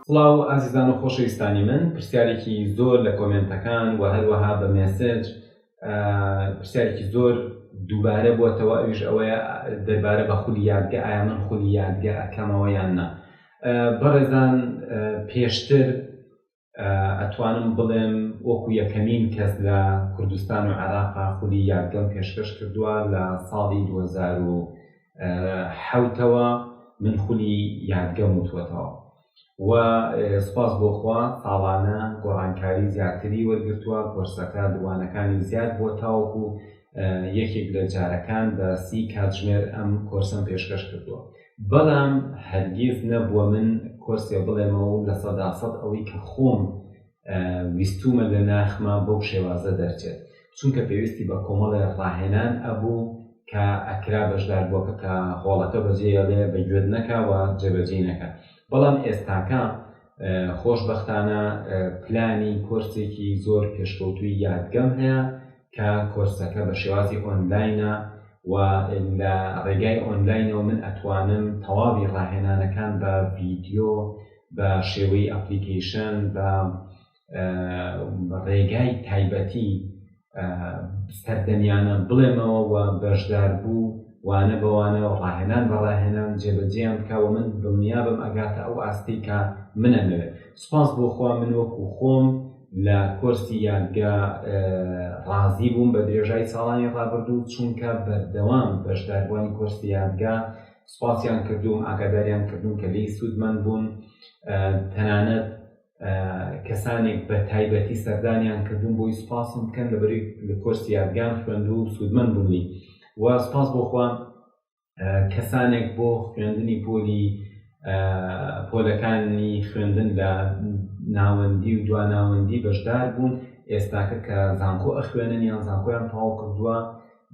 سڵاو ئازیزان و خۆشەویستانی من پرسیارێکی زۆر لە کۆمێنتەکان و هەروەها بە مێسج پرسیارێکی زۆر دووبارە بووەتەوە ئەویش ئەوەیە دەربارە بە خولی یادگە ئایا من خولی یادگە ئەکەمەوە یان نا بەڕێزان پێشتر ئەتوانم بڵێم وەکو یەکەمین کەس لە کوردستان و عێراقا خولی یاگەم پێشکەش کردووە لە ساڵی 2010ەوە من خولی یادگەم وتوەتەوە و سپاس بۆخوا ساڵانە گۆڕانکاری زیاتری وەرگتووە کۆرسەکە دووانەکانی زیاد بۆ تاوەکو یەکێک لە جارەکان بە سی کاتژمێر ئەم کۆرسەم پێشکەش کردووە بەڵام هەرگیز نەبووە من کۆرسێ بڵێمەوە و لە سەدا سەد ئەوەی کە خۆم ویستومە لە ناخما بەو شێوازە دەرچێت چونکە پێویستی بە کۆمەڵێ ڕاهێنان ئەبوو کە ئەکرا بەشدار بووەکە کە هۆڵەکە بەجێڵێ بە گوێت نەکەوە جێبەجێ نەکە بەڵام ئێستاکە خۆشببختانە پلانی کۆرسێکی زۆر پێشکەوتووی یادگەم هەیە کە کۆرسەکە بە شێوازی ئۆنلاینە و لە ڕێگای ئۆنلاینەوە من ئەتوانم تەواوی ڕاهێنانەکان بە ڤیدیۆ بە شێوەی ئەپلیکەیشن بە ڕێگای تایبەتی سەردەمیانە بڵێمەوە و بەشدار بوو وانە بەوانە و ڕاهێنان بە ڕاهێنان جێبەجێیان بکەوە من دڵنیابم ئەگاتە ئەو ئاستەی کە منەمەوێت سپاس بۆخوا من وەکو خۆم لە کۆرسی یادگە ڕازی بووم بە درێژای ساڵانی ڕابردوو چونکە بەردەوام بەشداربووانی کۆرسی یادگە سوپاسیان کردوم ئاگاداریان کردوم کە لێی سوودمەند بوون تەنانەت کەسانێک بە تایبەتی سەردانیان کردوون بۆی سوپاسم بکەن لەبەری لە کۆرسی یادگان خوێندوو سوودمەند بوونی و سوپاس بۆ خۆم کەسانێک بۆ خوێندنی پۆلی پۆلەکانی خوێندن لە ناوەندی و دواناوەندی بەشدار بوون ئێستاکە کە زانکۆ ئەخوێنن یان زانکۆیان تەواو کردووە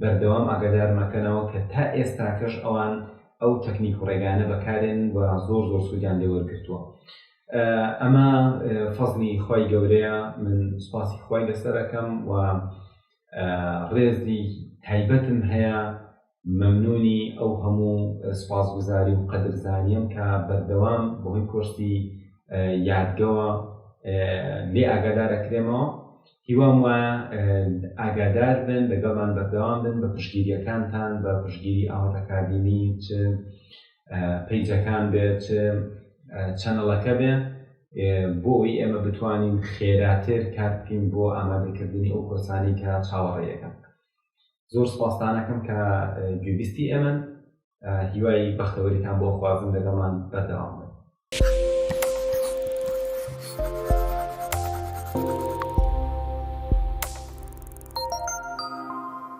بەردەوام ئاگادارمەکەنەوە کە تا ئێستاکەش ئەوان ئەو تەکنیک و ڕێگانە بەکارێن و زۆر زۆر سوودیان لێوەرگتووە ئەمە فەزلی خی گەورەیە من سوپاسی خی لەسەرەکەم و ڕێزی تایبەتم هەیە مەمنونی ئەو هەموو سوپاسگوزاری و قەدرزانیم کە بەردەوام بەهۆی کۆرسی یادگەوە لێ ئاگادار ئەکرێمەوە هیوام وایە ئاگادار بن لەگەڵمان بەردەوام بن بە پشگیریەکانتان بە پشگیری ئاوات ئەکادیمی چ پیجەکان بێ چ چەنەڵەکە بێ بۆ ئەوی ئێمە بتوانین خێراتر کار بکەین بۆ ئامادەکردنی ئەو کۆرسانی کە چاوەڕێیەکەن زۆر سوپاستانەکەم کە گوێبیستی ئێمەن هیوای بەختەوەریتان بۆ خوازم لەگەڵمان بەردەوام بن